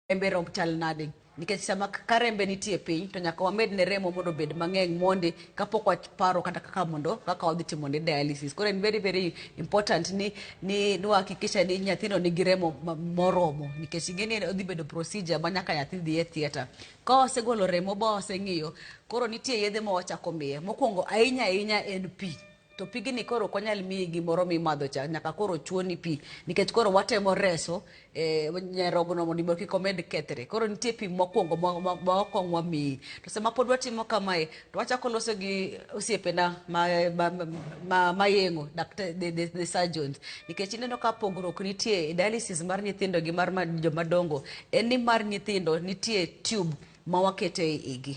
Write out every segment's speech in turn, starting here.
rembe romb chal nade nikech sama ka rembe nitie piny to nyaka wamed ne remo mondo obed mang'eny mondi kapok waparo kata kaka mondo kaka wadhi timo ne dialysis koro en very very important ni ni niwahakikisha ni nyathino nigi remo ma- moromo nikech ingeni odhi bedo procedure ma nyaka nyathi dhi e theatre ka wasegolo remo ba waseng'iyo koro nitie yedhe ma wachako miye mokwongo ahinya ahinya en pi to pigni koro ok wanyal miyi gimoro mimadho cha nyaka koro chuoni pi nikech koro watemo reso eh, nyarogno mondo ibo kik omed kethre koro nitie pi mokwongo ma- ma ma okwong wamiyi to sama pod watimo kamae to wachako loso gi osiepena ma, ma, ma, ma yeng'o dakta- the, the, the surgeons nikech ineno ka pogruok nitie e dialysis mar nyithindo gi mar ma- jomadongo en ni mar nyithindo nitie tube ma wakete e igi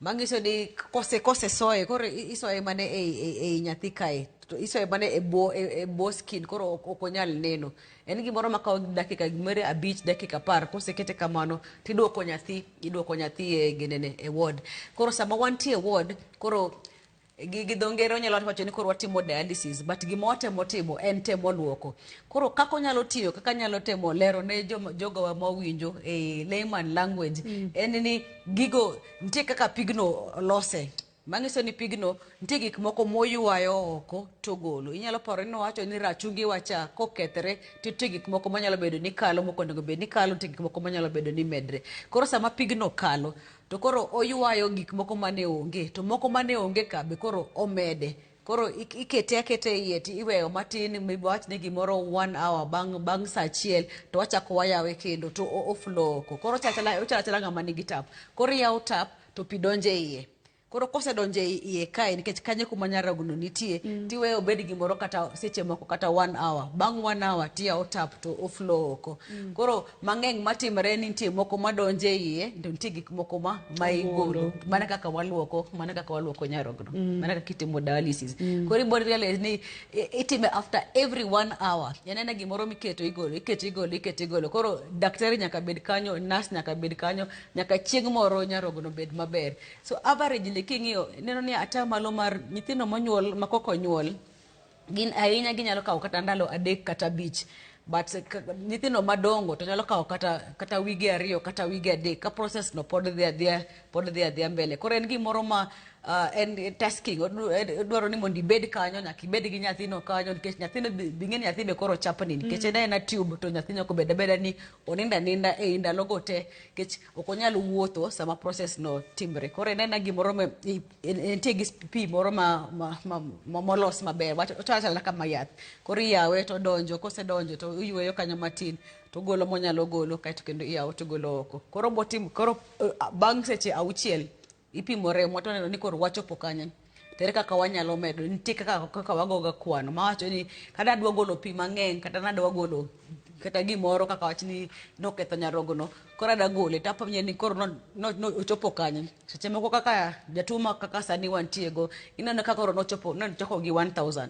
Mangiso ni kose kose soye koro isoye mane e e nyathi kae to isoye mane e bo e, e bo skin koro ok onyal neno. En gimoro ma kawo dakika mere abich dakika par kose kete kamano tiduoko nyathi iduoko nyathi e genene e ward. Koro sama wantie e ward koro gi gi dho ngere onyalo wacho ni koro watimo dialysis but gima watemo timo en temo luoko koro kaka onyalo tiyo kaka anyalo temo lero ne joma- jogowa ma owinjo e layman language en ni gigo nitie kaka pigno lose manyiso ni pigno nitie gik moko moywayo oko togolo inyalo paro ni wacho ni rachungi wacha kokethre to nitie gik moko manyalo bedo ni kalo moko onego bed ni kalo nitie gik moko manyalo bedo ni medre koro sama pigno kalo To koro oywayo gik moko mane onge, to moko mane onge ka be koro omede. Koro ik- ikete aketa e iye ti iweyo matin, maybe wawach ni gimoro one hour bang' bang' sa achiel to wachako wayawe kendo to o- o flow oko. Koro ochalo achala ochalo achala ng'ama nigi tap. Koro iyawo tap to pi donjo e iye. Koro kosedonjo e iye kae nikech kanyo e kuma nyarogno nitie, tiweye obed gimoro kata seche moko kata one hour. Bang' one hour tiyawo tap to o flow oko. Koro mang'eny matimore ni nitie moko madonje iye to nitie gik moko ma ma igolo mana kaka waluoko mana kaka waluoko nyarogno mana kaka itimo dialysis koro ibo realize ni i- itime after every one hour en ena gimoro miketo igolo iketo igolo iketo igolo koro daktari nyaka bed kanyo nurse nyaka bed kanyo nyaka chieng' moro nyarogno bed maber so averagely king'iyo ineno ni atamalo mar nyithindo monyuol ma koko nyuol gin ahinya ginyalo kawo kata ndalo adek kata abich but nyithindo madongo to nyalo kawo kata kata wige ariyo kata wige adek ka process no pod dhi adhiya pod dhi adhiya mbele koro en gimoro ma uh, en tasking dwaro ni mondo ibed kanyo nyaka ibed gi nyathino kanyo nikech nyathino bing'e nyathi be koro chapni mm. nikech en ena tube to nyathi nyaka obed abeda ni oninda ninda e i ndalogo te nikech ok onyal wuotho sama process no timre koro en ena gimoro nitie gi pi moro ma, ma, ma, ma molos maber wacho wacho achala kama yath koro iyawe to donjo kosedonjo to iyweyo kanyo matin to golo monyalo golo kaeto kendo iyawo to golo oko koro botim koro eh, bang' seche auchiel ipimo remo to neno ni koro wachopo kanyo tere kaka wanyalo medo nitie kaka kaka wagoga kwano mawacho ni kata adwa golo pi mang'eny kata nadwa golo kata gimoro kaka wach ni noketho nyarogono koro ada gole to apenje ni koro no- no- no- ochopo kanye seche moko kaka jatuo ma kaka sani wantiego ineno ka koro nochopo nochoko gi 1000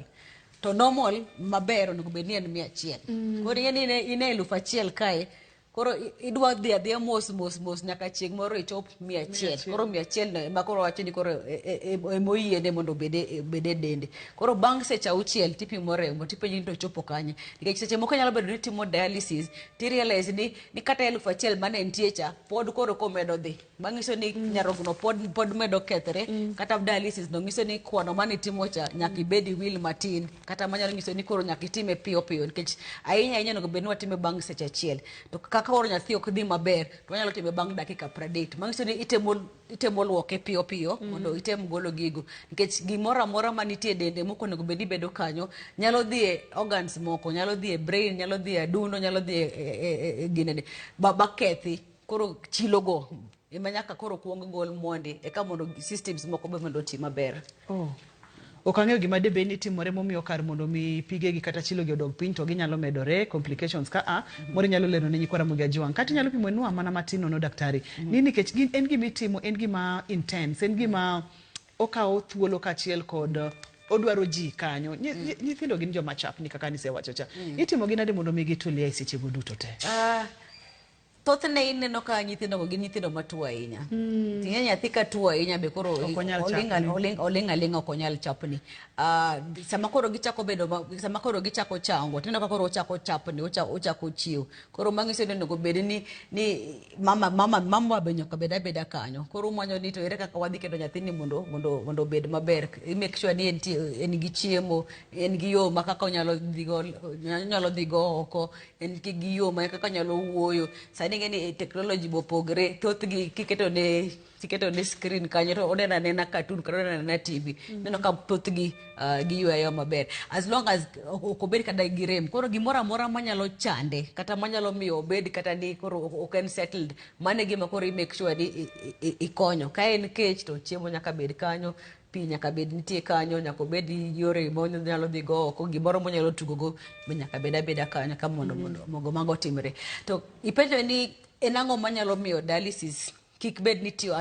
to normal maber onego bed ni en mia achiel koro ing'e ni ine- ine elufu achiel kae koro i- idwa dhi adhiya mos mos mos nyaka chieng' moro ichop mia achiel koro mia achiel no ema koro wacho ni koro e- e- e- emoyiene mondo obede obede dende koro bang' seche auchiel tipimo remo tipenji ni to ochopo kanye nikech seche moko nyalo bedo ni itimo dialysis tirealize ni ni kata elfu achiel mane entie cha pod koro komedo dhi manyiso ni mm. nyarogno pod, pod medo kethre mm. kata dialysis no nyiso ni kwano mane itimo cha nyaka ibed iwil matin kata manyalo nyiso ni koro nyaka itime piyo piyo nikech ahinya ahinya onego bed ni watime bang' seche achiel to kaka koro nyathi ok dhi maber to wanyalo time bang' dakika pradek manyiso ni itemo itemo luoke piyo piyo mm. mondo item golo gigo nikech gimoro amora ma nitie dende moko onego bed ni bedo kanyo nyalo dhi e organs moko nyalo dhi e brain nyalo dhi e adundo nyalo dhi e, e, e, e, e ginene bakethi koro chilogo ema nyaka koro kuong gol mondi eka mondo systems moko be mondo oti maber oh. Ok ang'eyo gima debed ni timore momiyo kar mondo mi pigegi kata chilogi odog piny to ginyalo medore, complications ka a, moro inyalo lero ne nyikwa Ramogi Ajiwang'. Kata inyalo pimo nua mana matin nono daktari. Ni nikech gin en gima itimo, en gima intense, en gima okawo thuolo kaachiel kod odwaro ji kanyo. Nyi- nyi- Nyithindo gin joma chapni kaka nisewacho cha. Itimo gi nade mondo mi gitulie e sechego duto te? Ah, Thothne ineno ka nyithindogo gin nyithindo matuo ahinya. Mm. Ting'e nyathi ka tuo ahinya be koro oling' aling' ok onyal chapni. Ah, sama koro gichako bedo sama koro gichako chango tineno ka koro ochako chapni ochako chiew. Koro mang'iso ni onego bed ni ni mama mama mama be nyaka bed abeda kanyo. Koro umanyo ni to ere kaka wadhi keto nyathini mondo mondo mondo obed maber. I make sure ni en gi chiemo, en gi yo ma kaka onyalo dhigo onyalo dhigo oko en ki gi yo ma kaka nyalo wuoyo sani ing'e ni eh, technology be opogre thothgi kiketo ne kiketo ne screen kanyo to oneno anena cartoon kata oneno anena tv mm-hmm. neno ka thothgi ah, giyweyo maber as long as ok obed kata gi rem koro gimoro amora manyalo chande kata manyalo miyo obed kata ni koro ok en settled mano e gima koro i make sure ni ikonyo ka en kech to chiemo nyaka bed kanyo pi nyaka bed nitie kanyo nyaka obed yore monyalo dhi go oko gimoro monyalo tugo go be nyaka bed abeda kanyo ka mondo mondo mm-hmm. mogo mago otimre to ipenjo ni en ang'o manyalo miyo dialysis kik bed ni tiyo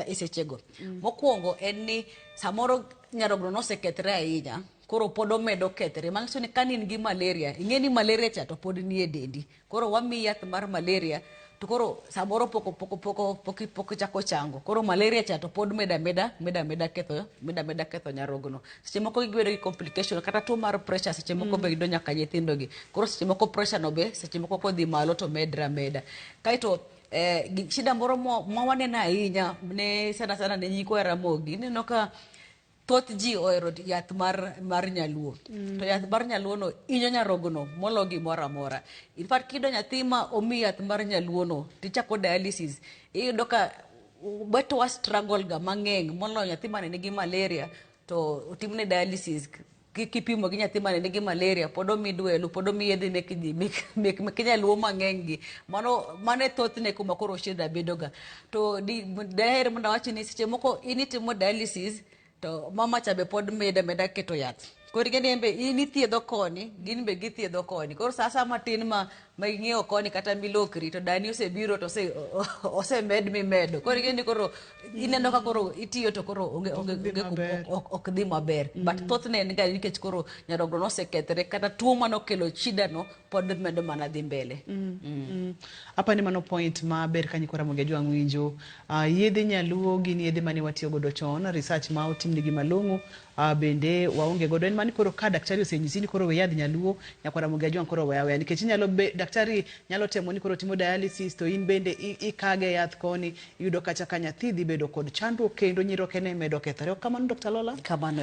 e sechego mm. mokwongo en ni samoro nyarogno nosekethre ahinya koro pod omedo kethre manyiso ni ka in gi malaria ing'e ni malaria cha to pod nie dendi Koro wamiyi yath mar malaria to koro samoro poko poko poko pok pok chako chango koro malaria cha to pod meda meda meda meda ketho meda meda ketho nyarogno seche moko giyudo gi complication kata tuo mar pressure seche moko be yudo nyaka nyithindo gi koro seche moko pressure no be seche moko kodhi malo to medra meda kaito eh, gi- shida moro mo- ma waneno ahinya ne sana sana ne nyikwa Ramogi ineno ka Thoth ji ohero yath mar, mar nyaluo mm. to yath mar nyaluono inyo nyarogono molo gimoro amora. In fact kiyudo nyathi ma omi yath mar nyaluono tichako dialysis iyudo ka wetewa struggle ga mang'eng' moloyo nyathi mane nigi malaria to otimne dialysis ki- kipimo gi nyathi mane nigi malaria pod omi dwelu pod omi yedhe mek ji- mek- mek- mek nyaluo mang'eny gi mano mano e thothne kuma koro shida bedoga to di- daher mondo awachi ni seche moko in itimo dialysis to mama cha be pod meda meda keto yath koro ing'eni en be in ithiedho koni gin be githiedho koni koro sa asaya matin ma ma ing'iewo koni kata milokri to dani osebiro to ose- o- o- osemed mimedo koro ing'eni koro ineno ka koro itiyo to koro onge onge dhi onge maber. ok- ok- ok dhi maber but thothne en ga nikech koro nyarogno nosekethre kata tuo mane okelo shidano pod medo mana dhi mbele Mm. apa ni mano point maber ka nyikora mogi ajwang' winjo Ah, yedhe nyaluo gin yedhe mane watiyo godo chon research ma otimnigi malong'o A bende waonge godo en mani koro ka daktari osenyisi ni koro we yadh nyaluo, Nyakwar Ramogi Ajwang' koro we aweya nikech inyalo be, daktari nyalo temo ni koro timo dialysis to in bende i ikage yath koni, iyudo kacha ka nyathi dhi bedo kod chandruok kendo nyirokene medo kethore. Ok kamano Dokta Lola? Kamano.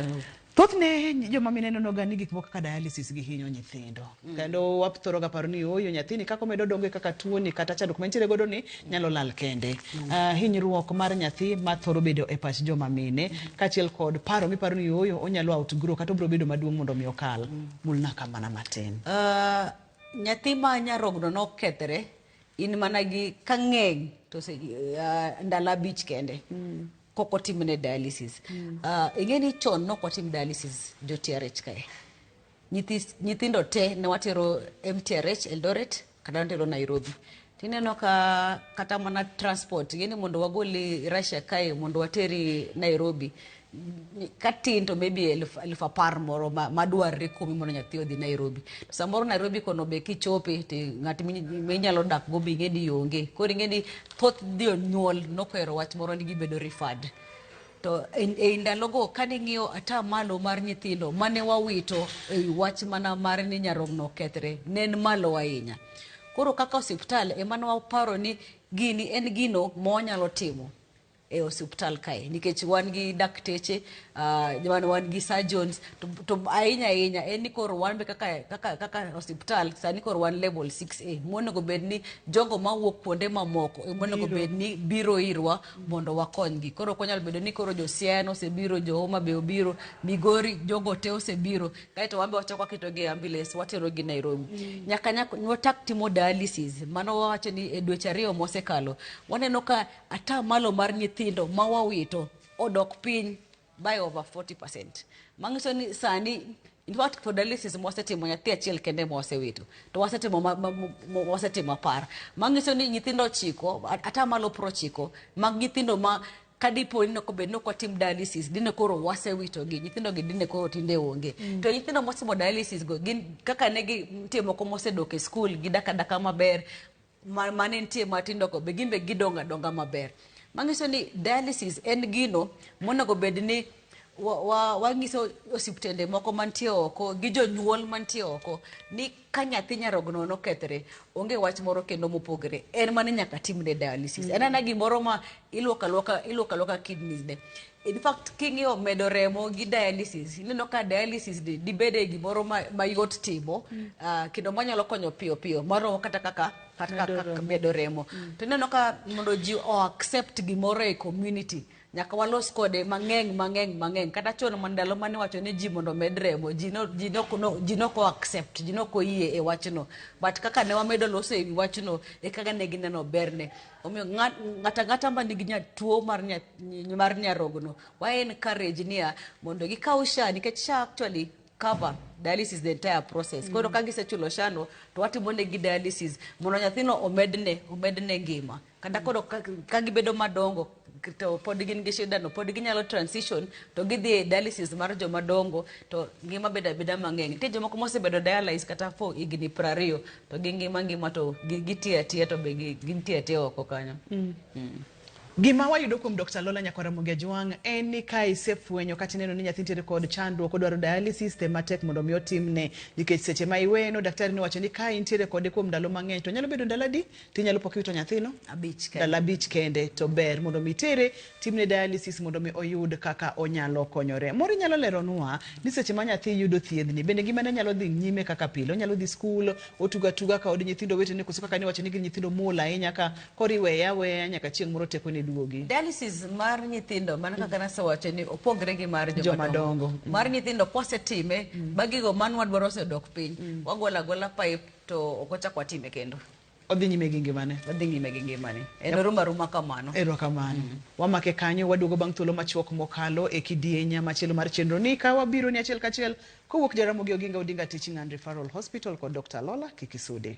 Thothne joma mine nenoga ni gik moko kaka dialysis gi hinyo nyithindo. Kendo wathoroga paro ni oyo nyathini kaka omedo dongo e kaka tuoni kata chandruok mantiere godo ni nyalo lal kende. Ah, hinyruok mar nyathi ma thoro bedo e pach joma mine kaachiel kod paro miparo ni oyo onyalo outgrow kata obiro bedo maduong' mondo mi okal. Mulna ka mana matin. Ah, nyathi ma nyarogno nokethre in mana gi ka ng'eny to se, ah, ndalo abich kende kok otimne dialysis Ah, ing'e ni chon nok watim dialysis jotrh kae nyithi nyithindo te ne watero MTRH Eldoret kata watero Nairobi tineno ka kata mana transport yani mondo wagoli Russia kae mondo wateri Nairobi ni- katin to maybe eluf eluf apar moro ma- madwarre kuomi mondo nyathi odhi Nairobi to samoro Nairobi kono be kichope to ng'at mi- minyalo dak go be ing'e ni onge koro ing'e ni thoth jonyuol nokohero wach moro ni gibedo referred To ei ndalogo kane ing'iyo ata malo mar nyithindo mane wawito ei wach mana mar ni nyarogno okethre ne en malo ahinya. Koro kaka osiptal ema ne waparo ni gini en gino ma wanyalo timo e osiptal kae nikech wan gi dakteche ah, wan, wan gi surgeons to, to ahinya ahinya en ni koro wan be kaka, kaka, kaka osiptal sani koro wan level 6A monego bed ni jogo mawuok kuonde mamoko monego bed ni biro irwa mondo wakonygi. Koro ok wanyal bedo ni koro jo Siaya nosebiro, jo Homa be obiro, Migori jogo te osebiro, kaeto wan be wachako waketogi e ambulance waterogi Nairobi. Mm. Nyaka nyaka wachak timo dialysis, mano wawacho ni e dweche ariyo mosekalo, waneno ka ataa malo mar nyithindo ma wawito odok piny by over 40%. Mangiso ni sani in fact for dialysis mwasetimo nyathi achiel kende mwasewito to wasetimo ma- ma- ma- ma- wasetimo apar mangiso ni nyithindo ochiko at- ata malo pro chiko mag nyithindo ma kadipo ni noko bed ni ok watim dialysis dine koro wasewito gi nyithindo gi dine koro tinde onge to nyithindo motimo dialysis go gin kaka ne gi nitie moko mosedok e skul gidaka daka maber ma- mane nitie matindo go be gin be gidongo adonga maber manyiso ni dialysis en gino monego bed ni wa- wa- wanyiso osiptende moko mantie oko gi jonyuol mantie oko ni ka nyathi nyarogno nokethre onge wach moro kendo mopogre en mane nyaka timne dialysis en ana gimoro ma ilwoko alwoka ilwoko alwoka kidneys ne In fact king'iyo medo remo gi dialysis ineno ka dialysis ni dibede gimoro ma, mayot timo mm. uh, kendo manyalo konyo piyo piyo moromo kata kaka kata medo remo mm. to ineno ka mondo ji o accept gimoro e community nyaka walos kode mang'eng mang'eng mang'eng kata chon mandalo mane wacho ni ji mondo med remo ji no ji no no ji no ko accept ji no ko yie e wachno but kaka ne wamedo loso e wachno e kaka ne gineno berne Omiyo ng'at- ng'ato ang'ata ma nigi nya- tuo mar nya- ny- mar nyarogno wa encourage niya mondo gikaw sha nikech sha actually cover dialysis the entire process koro ka gisechulo shano to watimo negi dialysis mondo nyathino omedne omedne ngima kata koro ka- ka gibedo madongo to pod gin gi shidano pod ginyalo transition to gidhi e dialysis mar joma dongo to ngima bedo abeda mang'eny nitie jomoko mosebedo dialysis kata for higni prariyo to gi ngima ngima to gi- gitiyo atiya to be gi- gintie atiya oko kanyo Mm. Gima wayudo kuom Dr. Lola Nyakwara Mugejwang' en ni ka isefwenyo kata ineno ni nyathi nitiere kod chandruok odwaro dialysis tem matek mondo mi otimne nikech seche ma iweno daktari nowacho ni ka intiere kode kuom ndalo mang'eny to nyalo bedo ndalo adi tinyalo pok iwito nyathino abich kende. ndalo abich kende to ber mondo mi itere timne dialysis mondo mi oyud kaka onyalo konyore. Moro inyalo leronwa ni seche ma nyathi yudo thiedhni bende ngimane nyalo dhi nyime kaka pile, onyalo dhi skul, otugo atuga ka od nyithindo wetene koso kaka niwacho ni gin nyithindo muol ahinya ka koro iweye aweya nyaka chieng' moro tekone duogi. Dialysis mar nyithindo mana kaka nasewacho ni opogre gi mar Joma joma dongo. dongo. Mm. Mar nyithindo kwasetime ma gigo manwa dwaro osedok piny, wagolo agola pipe to ok wachak watime kendo. Odhi nyime gi ngimane. Odhi nyime gi ngimane. En yep. oruma ruma kamano. Ero kamano. Mm -hmm. Wamake kanyo waduogo bang' thuolo machuok mokalo e kidienya machielo mar chenro ni ka wabiro ni achiel kachiel kowuok Jaramogi Oginga Odinga Teaching and Referral Hospital kod Dr. Lola Kikisude.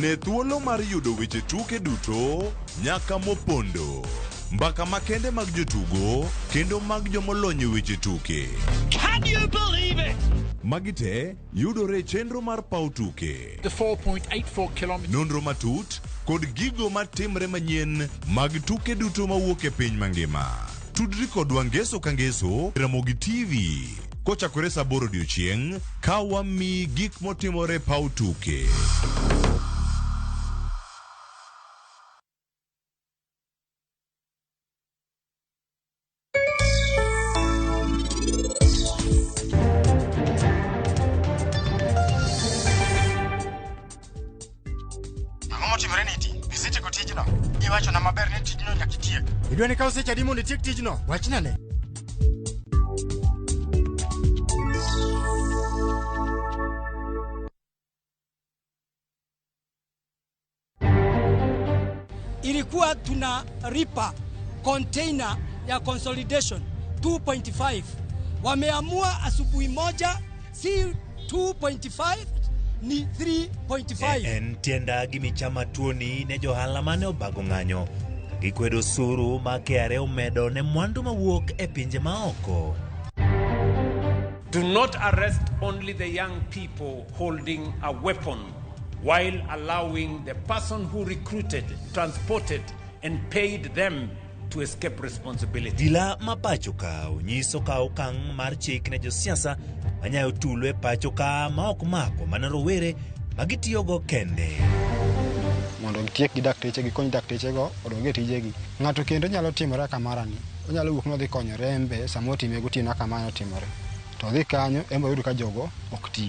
Ne thuolo mar yudo weche tuke duto nyaka mopondo. Mbaka makende mag jotugo kendo mag jomolony e weche tuke. Can you believe it? Magi te yudore e chenro mar paw tuke. The 4.84 kilometers. Nonro matut kod gigo matimre manyien mag tuke duto mawuok e piny mangima. Tudri kodwa ngeso ka ngeso e Ramogi TV kochakore saa aboro odiechieng' ka wamiyi gik motimore e paw tuke. Ang'o motimore ni iti? Isetieko tijno? Iwachona maber ni tijno nyaka itiek. Idwa ni kaw seche adi mondo itiek tijno? Wachna ne. ilikuwa tuna ripa container ya consolidation 2.5 wameamua asubuhi moja Si 2.5 ni 3.5. En tienda gi michama tuoni ne johala mane obago ng'anyo gikwedo osuru ma KRA omedo ne mwandu mawuok e pinje maoko. Do not arrest only the young people holding a weapon while allowing the person who recruited, transported and paid them to escape responsibility. Dila ma pacho ka onyiso ka okang' mar chik ne josiasa manyayo tulo e pacho ka ma ok mako mana rowere ma gitiyogo kende. mondo gitiek gi dakteche gikony daktechego odog e tijegi ng'ato kendo nyalo timore akamarani onyalo wuok nodhi konyore en be sama otime gotieno akamano otimore to odhi kanyo embe oyud ka jogo ok ti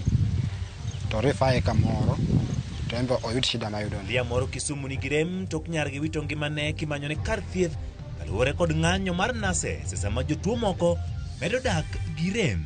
to rifaye kamoro to embe oyud shida mayudo Dhiya moro Kisumu nigi rem tok nyar gi wito ngimane kimanyone kar thieth kaluwore kod ng'anyo mar nase sesa ma jotuo moko medo dak gi rem.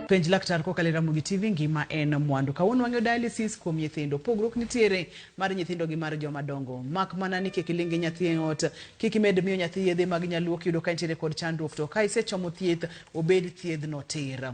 penj laktar kokalo e Ramogi TV ngima en mwandu. Kawuono wang'yo dialysis kuom nyithindo. Pogruok nitiere mar nyithindo gi mar joma dongo. Mak mana ni kik ilingi nyathi e ot, kik imed miyo nyathi yedhe mag nyaluo kiyudo ka nitiere kod chandruok to ka isechomo thieth obed thiedhno tir.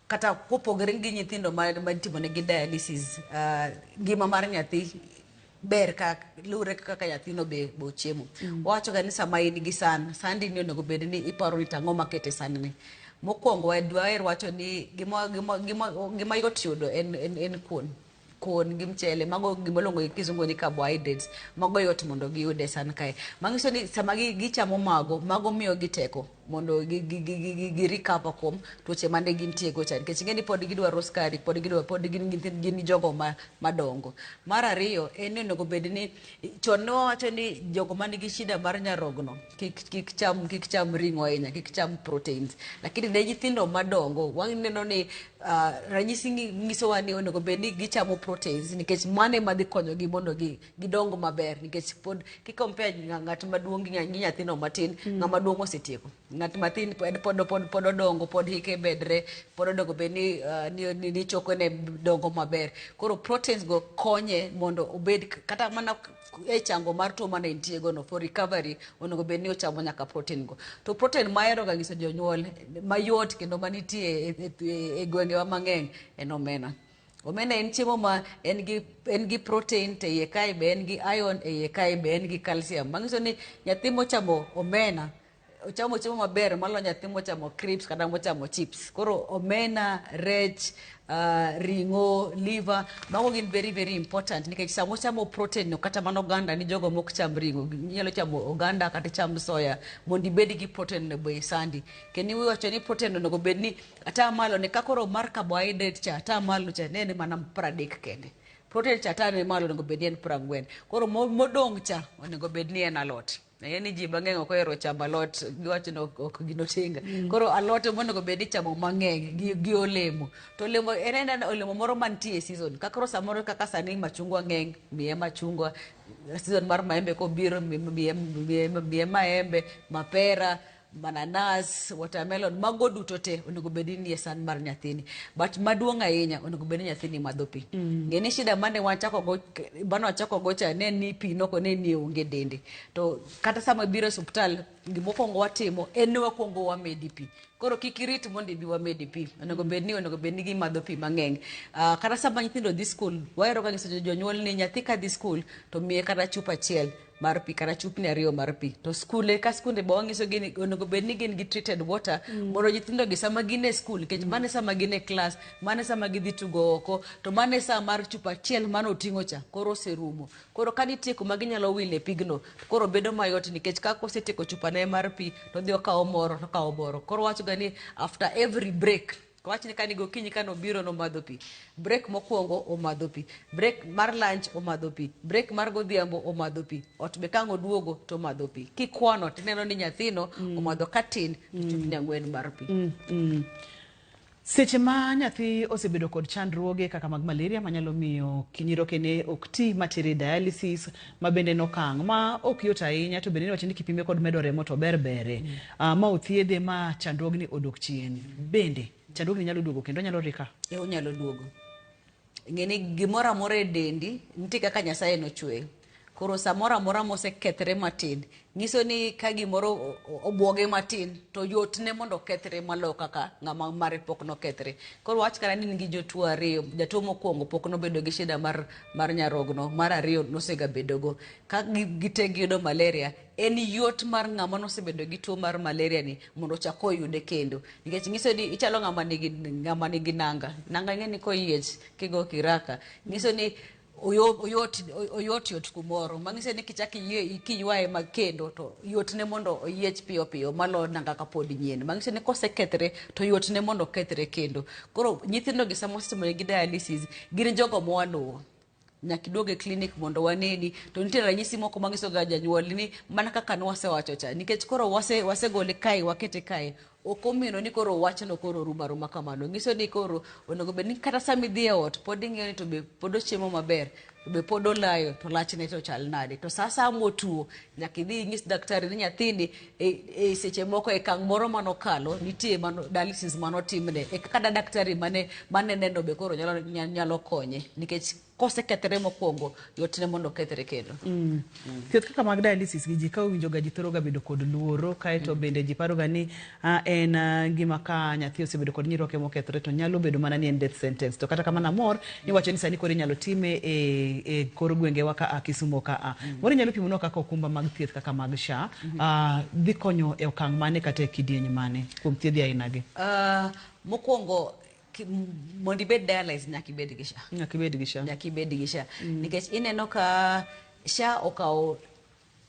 Kata kopogre gi nyithindo ma itimonegi dialysis, ngima mar nyathi ber ka luwre gi kaka nyathino be ochiemo. Wawachoga ni sama in gi san, sandini onego obed ni iparo ni to ang'o maket e sandni. Mokwongo dwaher wacho ni gima yot yudo en kuon. kuon gi mchele mago gima luongo gi kisungu ni carbohydrates mago yot mondo giyude san kae manyiso ni sama gi- gichamo mago mago miyo gi teko mondo gi- gi- gi- gi- gi- gi recover kuom tuoche mane gintie go cha nikech ing'e ni pod gidwaro skari pod gidwaro pod gin nyithind- gin jogo ma- madongo mar ariyo en ni onego bed ni chon ne wawacho ni jogo man gi shida mar nyarogno kik kik cham kik cham ring'o ahinya kik cham proteins lakini ne nyithindo madongo waneno ni Uh, ranyisi nyisowa ni onego bed ni gichamo proteins nikech mano ema dhi konyogi mondo gi, gidong maber nikech pod kikompea ng'at maduong' gi nyathino matin mm. ng'ama duong' osetieko ng'at matin pod pod pod pod odongo pod hike bedre pod onego bed ni, uh, ni, ni, ni chokone dongo maber koro proteins go konye mondo obed kata mana e chango mar tuo mane entie go no for recovery onego bed ni ochamo nyaka protein go to protein ma ahero ga nyiso jonyuol mayot kendo manitie e, e, e, e gwengewa mang'eny en omena omena en chiemo ma en gi en gi protein te iye kae be en gi iron e iye kae be en gi calcium manyiso ni nyathi mochamo omena ochamo chiemo maber maloyo nyathi mochamo crips kata mochamo chips koro omena rech uh, ring'o liver mago gin very very important nikech sama ochamo protein no kata mana oganda ni jogo mok cham ring'o inyalo chamo oganda kata cham soya mondo ibed gi protein no be sandi kendo iwacho ni protein onego bed ni ata malo ne ka koro mar carbohydrate cha ata malo cha ne en mana pradek kende protein cha ata ne malo onego bed ni en prangwen koro mo- modong' cha onego bed ni en alot Ng'e ni ji mang'eny ok ohero chamo alot, giwacho ni ok ok gin otenga. Koro alot ema onego bed ni ichamo mang'eny gi, gi olemo. To olemo en aena olemo moro mantie e season. Ka koro samoro kaka sani machungwa ng'eny, miye machungwa, season mar maembe kobiro mi- mi- miye, miye, miye maembe, mapera, mananas, watermelon, mago duto te onego bed ni nie san mar nyathini. But maduong' ahinya onego bed ni nyathini madho pi. Mm. Ng'e ni shida mane wachako go mane wachako go cha ne ni pi noko ne ni onge dende. To kata sama biro e osiptal gima okuongo watimo en ni wakuongo wamedi pi. Koro kik irit mondo ibi wamedi pi. Onego bed ni onego bed ni gimadho pi mang'eny. Uh, kata sama nyithindo dhi skul, wahero ga nyiso jonyuol ni nyathi ka dhi skul to miye kata chupa achiel mar pi kata chupni ariyo mar pi to skunde ka skunde be wanyisogi ni onego bed ni gin gi treated water mondo nyithindogi sama gin e skul nikech mano e sama gin e klas mano e sama gidhi tugo oko to mano e sa mar chupa achiel mane oting'o cha koro oserumo koro ka nitie kuma ginyalo wile pigno to koro bedo mayot nikech ka kosetieko chupane mar pi to odhi okawo moro to okawo moro koro wachoga ni after every break Wachni ka ni gokinyi ka nobiro nomadho pi. Break mokwongo omadho pi. Break mar lunch omadho pi. Break mar godhiambo omadho pi. Ot be kang' oduogo to omadho pi. Kikwano tineno ni nyathino mm. omadho ka tin to mm. chupni ang'wen mar pi. Mm. Mm. Seche ma nyathi osebedo kod chandruoge kaka mag malaria manyalo miyo kinyirokene ok ti matere dialysis ma bende en okang' ma ok yot ahinya to bende niwacho ni kipime kod medo remo to ber bere mm. uh, ma othiedhe ma chandruogni odok chien bende chandruogni nyalo duogo kendo onyalo rika e onyalo duogo ng'eni gimoro amora e dendi nitie kaka nyasaye nochweyo koro samoro amora mosekethre matin nyiso ni ka gimoro obwoge matin to yotne mondo okethre maloyo kaka ng'ama mare pok nokethre. Koro wach kata ni nigi jotuo ariyo, jatuo mokwongo pok nobedo gi shida mar, mar nyarogno, mar ariyo nosegabedogo. Ka gite giyudo malaria, en yot mar ng'ama nosebedo gi tuo mar malaria ni mondo ochak oyude kendo. Nikech nyiso ni ichalo ng'ama nigi, ng'ama nigi nanga. Nanga ing'e ni koyiech kigo kiraka, nyiso ni oyo- oyot oyot yot kumoro mang'ise ni kichak iyie- kiywaye mag kendo to yotne mondo oyiech piyo piyo maloyo nanga kapod nyien mang'ise ni kosekethre to yotne mondo okethre kendo koro nyithindogi sama osetimoregi dialysis gin jogo mwaluwo nyaka iduog e klinik mondo waneni to nitie ranyisi moko manyisoga janyuol ni mana kaka nwasewacho cha nikech koro wase- wasegole kae wakete kae Ok omino ni koro wachno koro orumo aruma kamano. Nyiso ni koro onego bed ni kata sama idhi e ot pod ing'iyo ni to be pod ochiemo maber, to be pod olayo, to lachne to chal nade. To sa asaya motuo, nyaka idhi inyis daktari ni nyathini e, e seche moko e kang' moro manokalo, nitie mano, dialysis manotimne. E kaka da daktari mane, mane neno be koro nyalo, nyalo konye. Nikech kosekethore mokwongo yotne mondo okethre kendo mm. mm. thieth kaka mag dialysis gi ji ka owinjoga ji thoroga bedo kod luoro kaeto mm. bende ji paroga ni ah, en ah, gima ka nyathi osebedo kod nyiroke mokethore to nyalo bedo mana ni en death sentence to kata kamano amor iwacho ni sani koro inyalo time e, e kor gwengewa ka a kisumo ka a mm. moro inyalo pimonwa kaka okumba mag thieth kaka mag sha mm -hmm. ah, dhi konyo e okang' mane kata e kidieny mane kuom thiedhi ainagi uh, mokwongo mondo ibed dialyze nyaka ibed gi sha nyaka ibed gi sha nyaka ibed gi sha mm. nikech ineno ka sha okawo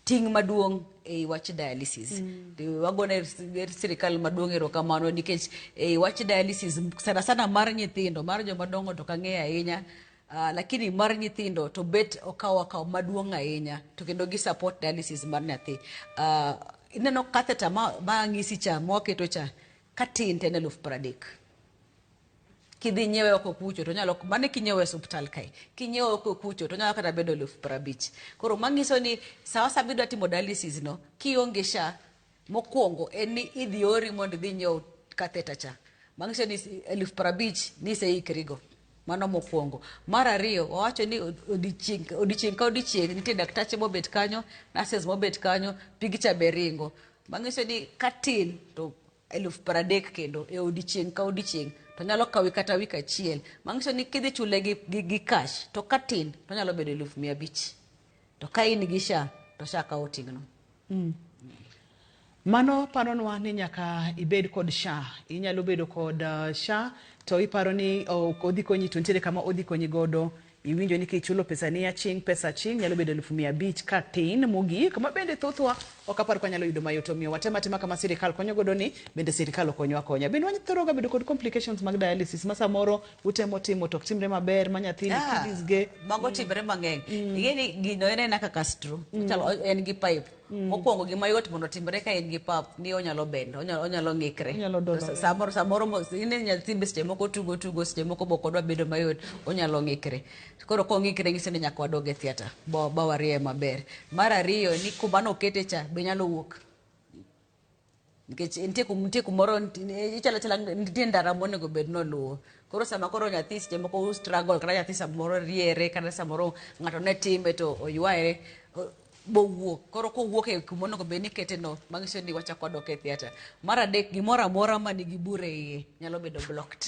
ting' maduong' e wach dialysis mm. wagone er sirikal maduong' erokamano nikech e wach dialysis sana sana mar nyithindo mar joma dongo to kang'eyo ahinya Uh, lakini mar nyithindo to bet okawo akawo maduong' ahinya to kendo gi support dialysis mar nyathi uh, ineno catheter ma, ma ng'isi cha mwaketo cha Ka tint en eluf pradek. Kidhi nyiewe oko kucho to nyalo mane kinyiewe hospital kae. Kinyiewe oko kucho to nyalo kata bedo eluf prabich. Koro mangiso ni sawa sawa bidwa timo dialysis no kionge sha mokwongo en ni idhi ori mondo idhi nyiew catheter cha. Mangiso ni eluf prabich ni iseikrigo. Mano mokwongo. Mar ariyo, wawacho ni odiochieng' odiochieng' ka odiochieng' nitie daktache mobet kanyo, nurses mobet kanyo, pigi cha be ringo. Mang'iso ni katin to eluf pradek kendo e odiochieng' ka odiochieng'. To nyalo kawi kata wik achiel. Mang'iso ni kidhi chule gi gi gi cash to katin to onyalo bedo eluf mia abich. To ka in gi sha to sha kawo ting'no. Mm. Mano paronwa ni nyaka ibed kod sha. Inyalo bedo kod uh, sha to iparo ni oh, odhi konyi to nitiere kama odhi konyi godo iwinjo ni kichulo pesa ni aching pesa aching nyalo bedo elfu mia abich ka tin mogik ma bende thothwa ok apar kwa nyalo yudo mayot omiyo watema tema kama sirikal konyo godo ni bende sirikal okonyo akonya bende wanyalo thoroga bedo kod complications mag dialysis ma samoro utemo timo to ok timre maber ma nyathini Ah, kiddies ge mago timre mang'eny ing'e ni gino en ena kaka stro chalo en gi pipe mokwongo gima yot mondo otimre ka en gi pap ni onyalo bend onyalo onyalo ng'ikre Onyalo dolo. Sa- samoro samoro mo- ine nyathi be seche moko tugo tugo seche moko be ok odwa bedo mayot onyalo ng'ikre koro kong'ikre ng'iso ni nyaka wadog e theatre ba ba warieyo maber mar ariyo ni kuma nokete cha be nyalo wuok nikech nitie kum- nitie kumoro nti- ichalo chala nitie ndara monego bed noluwo koro sama koro nyathi seche moko u struggle kata nyathi samoro riere kata samoro ng'ato ne time to oywaye o- bowuok koro kowuok e kuma onego bed ni ikete no manyiso ni wachako dok e theatre mar adek gimoro amora ma nigi bure iye nyalo bedo blocked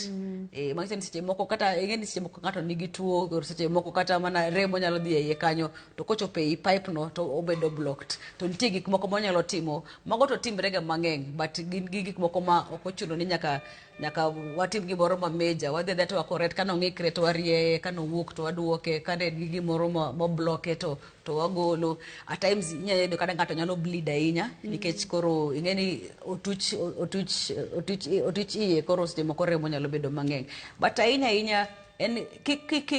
eh, manyiso ni seche moko kata ing'e ni seche moko ng'ato nigi tuo koro seche moko kata mana remo nyalo dhi e iye kanyo to kochopo ei pipe no to obedo blocked to nitie gik moko monyalo timo mago to timre ga mang'eny but gin gi gik moko ma ok ochuno ni nyaka nyaka watim gimoro ma major wadhi adhiya to wakoret kano ng'ikre to warieye kano wuok to waduoke kane en gi gimoro ma ma bloke to to wagolo at times inyalo yudo kata ng'ato nyalo bleed ahinya nikech koro ing'e ni otuch otuch otuch otuch iye koro seche moko remo nyalo bedo mang'eny but ahinya ahinya en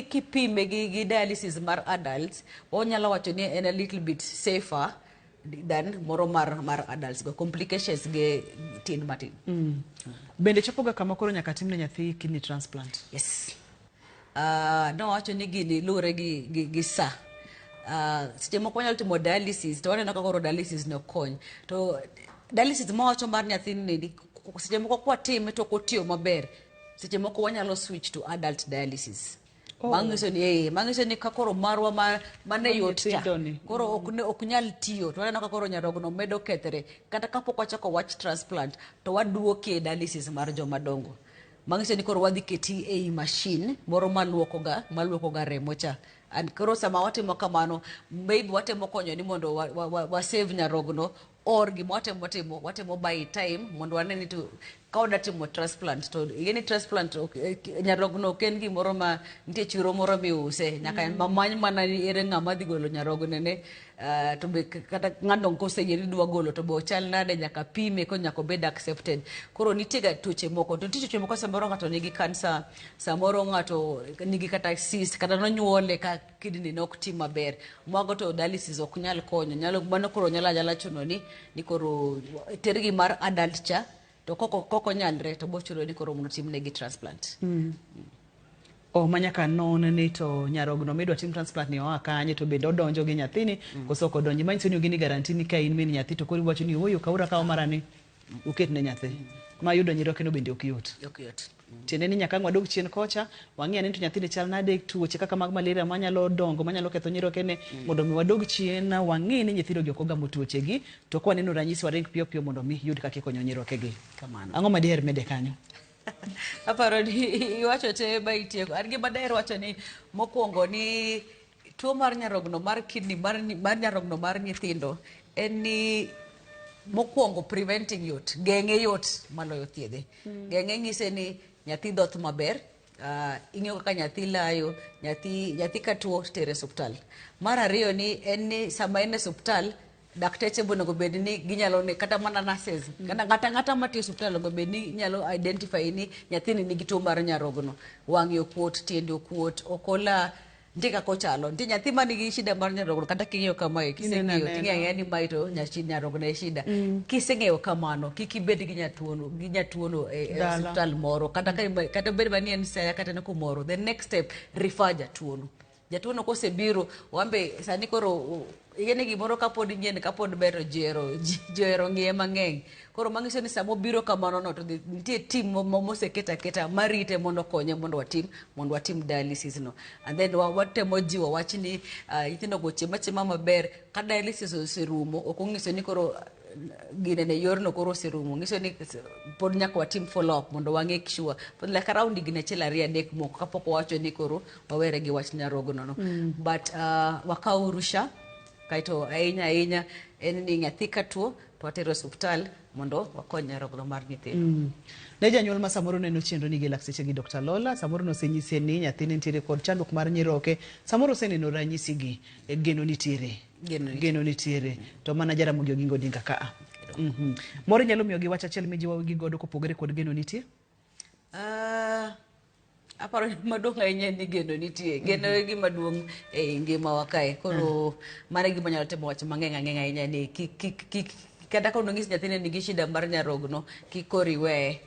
kipime gi, gi dialysis mar adults wanyalo wacho ni en a little bit safer than moro mar, mar adults go complications ge tin matin mm. bende chopoga kama koro nyaka timne nyathi kidney transplant yes uh, ah, nowacho ni gini luwore gi, gi, gi sa uh, seche moko wanyalo timo dialysis to waneno ka koro dialysis no kony to dialysis mawacho mar nyathini seche moko kwatime to ok otiyo maber seche moko wanyalo switch to adult dialysis Oh. manyiso ni eh, manyiso ni ka koro marwa ma- mane Koro yot cha nyithindo ni. koro ok ne- ok nyal tiyo to waneno ka koro nyarogno medo kethre kata kapok wachako wach transplant to waduoke e dialysis mar joma dongo manyiso ni koro wadhi keti ei mashin moro maluokoga maluokoga remo cha and koro sama watimo kamano maybe watemo konyo ni mondo wa- wa- wa- wasave nyarogno or gima watemo timo watemo by time mondo wane ni to ka wada timo transplant to ingeni transplant ok- eh, ki- nyarogno ok en gimoro ma nitie chiro moro miuse nyaka Mm. mamany mana ni ere ng'ama dhi golo nyarogne ne ah, to be k- kata ng'ano koseyie ni dwa golo to be ochal nade nyaka pime ko nyaka obed accepted koro nitiega tuoche moko to nitie tuoche moko samoro ng'ato nigi kansa samoro ng'ato nigi kata cyst kata nonyuole ka kidney ne ok ti maber. Mago to dialysis ok nyal konyo. Nyalo mano koro nyalo anyala chuno ni ni koro tergi mar adult cha to koko koko nyalre to bochuno ni koro mondo timne gi transplant. Mm. Oh, manyaka non ni to nyarogno midwa tim transplant ni oa kanye to bende odonjo gi nyathini mm. koso ok odonji manyiso ni ogini garanti ni ka in min nyathi to koro iwacho ni ooyo kaura kawo marani uket ne nyathi mm. ma yudo nyiroke no bende ok yot. Ok yot. tiende ni nyaka ang' wadog chien kocha wang'i ane ni to nyathini chal nade tuoche kaka mag malaria manyalo dongo manyalo ketho nyirokene mondo mi wadog chien wang'i ni nyithindogi ok ogamo tuochegi to kwaneno ranyisi waring piyo piyo mondo mi yud kaka ikonyo nyirokegi Kamano. ang'o ma diher mede kanyo aparo ni iwacho te ba itieko an gima daher wacho ni mokwongo ni Tuo mar nyarogno mar kidney mar, mar nyarogno mar nyithindo en ni mokwongo preventing yot geng'e yot maloyo thiedhe mm. geng'e ng'ise ni nyathi dhoth maber uh, ing'eyo kaka nyathi layo nyathi nyathi katuo tere suptal mar ariyo ni en ni sama en e suptal dakteche bonego bed ni ginyalo ne kata mana nurses mm. kata ngata ngata matiyo e suptal onego bed ni nyalo identify ni nyathini nigi tuo mar nyarogno wang'e okuot tiende okuot okola ntie kaka ochalo ntie nyathi ma nigi shida mar nyarogno kata king'eyo kamae kiseng'eyo ting'eya ni mae to nyarogno e shida mm. kiseng'eyo kamano kik ibed gi nyatuono gi nyatuono e, e osiptal moro kata bed mani en saya kata ne kumoro the next step refer jatuono Jatuono kosebiro wambe sani koro igene gimoro kapod nyien kapod ber to jero johero ng'iye mang'eny koro manyiso ni sama obiro kamano no to nitie tim moseket aketa marite mondo okonye mondo watim mondo watim dialysis no and then watemo jiwo wach ni ah, nyithindo go chiema chiema maber ka dialysis oserumo ok onyiso ni koro gine ne yorno koro oserumo nyiso ni pod nyaka watim follow up mondo wang'e sure pod like around higni achiel ariyo adek moko kapok owacho ni koro wawere gi wach nyarogno no but uh, wakaw urusha kaeto ahinya ahinya en ni nyathi katuo to watere osuptal mondo wakony nyarogno mar nyithindo ne janyuol ma samoro neno chenro ni gi lakteche gi Dr. Lola samoro nosenyise ni nyathine nitiere kod chandruok mar nyiroke samoro oseneno ranyisi gi e, geno nitiere Geno nitiere. geno nitiere to mana Jaramogi Oginga Odinga ka a Mhm. moro inyalo miyo gi wach achiel mijiwogi godo kopogore kod geno nitie Ah, aparo ni maduong' ahinya en ni geno nitie geno e gima duong' e ngimawa kae koro mano e gima nyalo timo wach mang'eng' ang'eng' ahinya ni kik kik kik kata ka nonyis nyathini nigi shida mar nyarogno kik koro iweye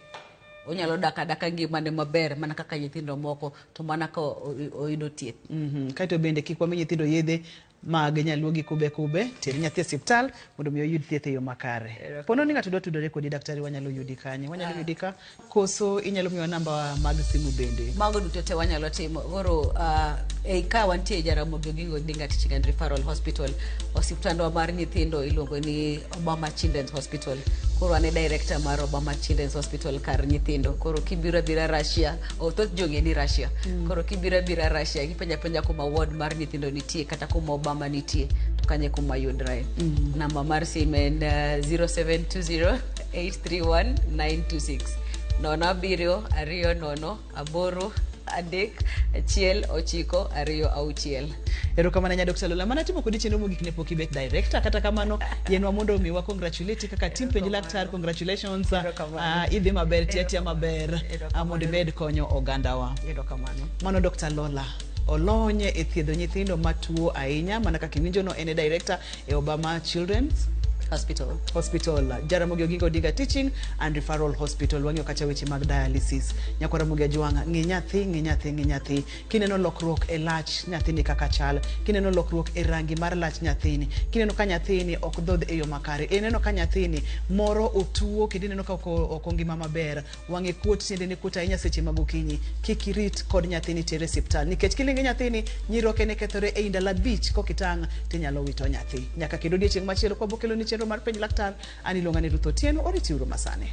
onyalo dak adaka ngimane maber mana kaka nyithindo moko to mana ka o- o- oyudo thieth Mhm. Kae to bende kik wami nyithindo yedhe mag nyaluo gi kube kube ter nyathi e osiptal mondo mi oyud thieth e yo makare pono ni ng'ato dwa tudore kodi daktari wanyalo yudi kanye wanyalo yudi ka koso inyalo miwa namba mag simu bende mago duto te wanyalo timo koro ah, ei ka wantie e jaramogi oginga odinga teaching and referral hospital osiptandwa mar nyithindo iluongo ni Obama Children's Hospital. Koro ane director mar Obama Children's Hospital kar nyithindo. Koro kibiro abira Russia, oh, thoth jong'e ni Russia. Mm. Koro kibiro abira Russia, gipenja penja kuma ward mar nyithindo nitie kata kuma Obama nitie. To kanye kuma yudrae. Mm. Namba mar simu en uh, 0720 831 926. Nono abiriyo, ariyo nono, aboro adek achiel ochiko ariyo auchiel erokamano nya dr lola mana timo kodi chenro mogik ne pok ibet director kata kamano yenwa mondo omiwa congratulate kaka tim penj laktar congratulations uh, idhi maber tiatia maber uh, mondo imed konyo ogandawa erokamano mano dr lola olony e thiedho nyithindo matuo ahinya mana kaka iwinjono en e director e Obama Children's Hospital. Hospital, Jaramogi Oginga Odinga Teaching and Referral Hospital. Wang'eyo kacha weche mag dialysis. Nyako Ramogi Ajwang', ng'i nyathi, ng'i nyathi, ng'i nyathi. Kineno lokruok e lach nyathini kaka chal, kineno lokruok e rangi mar lach nyathini, kineno ka nyathini ok dhodh e yo makare, ineno ka nyathini moro otuo kendo ineno ka ok o- ok ongima maber, wang'e kuot tiendene kuot ahinya seche mag okinyi kik irit kod nyathini tere siptal nikech kilinge nyathini nyiroke ne kethore ei ndalo abich kokitang' tinyalo wito nyathi nyaka kendo odiechieng' machielo kwa bokelo ni chenro mar penj laktar an iluonga ni ruth otieno oriti uru masani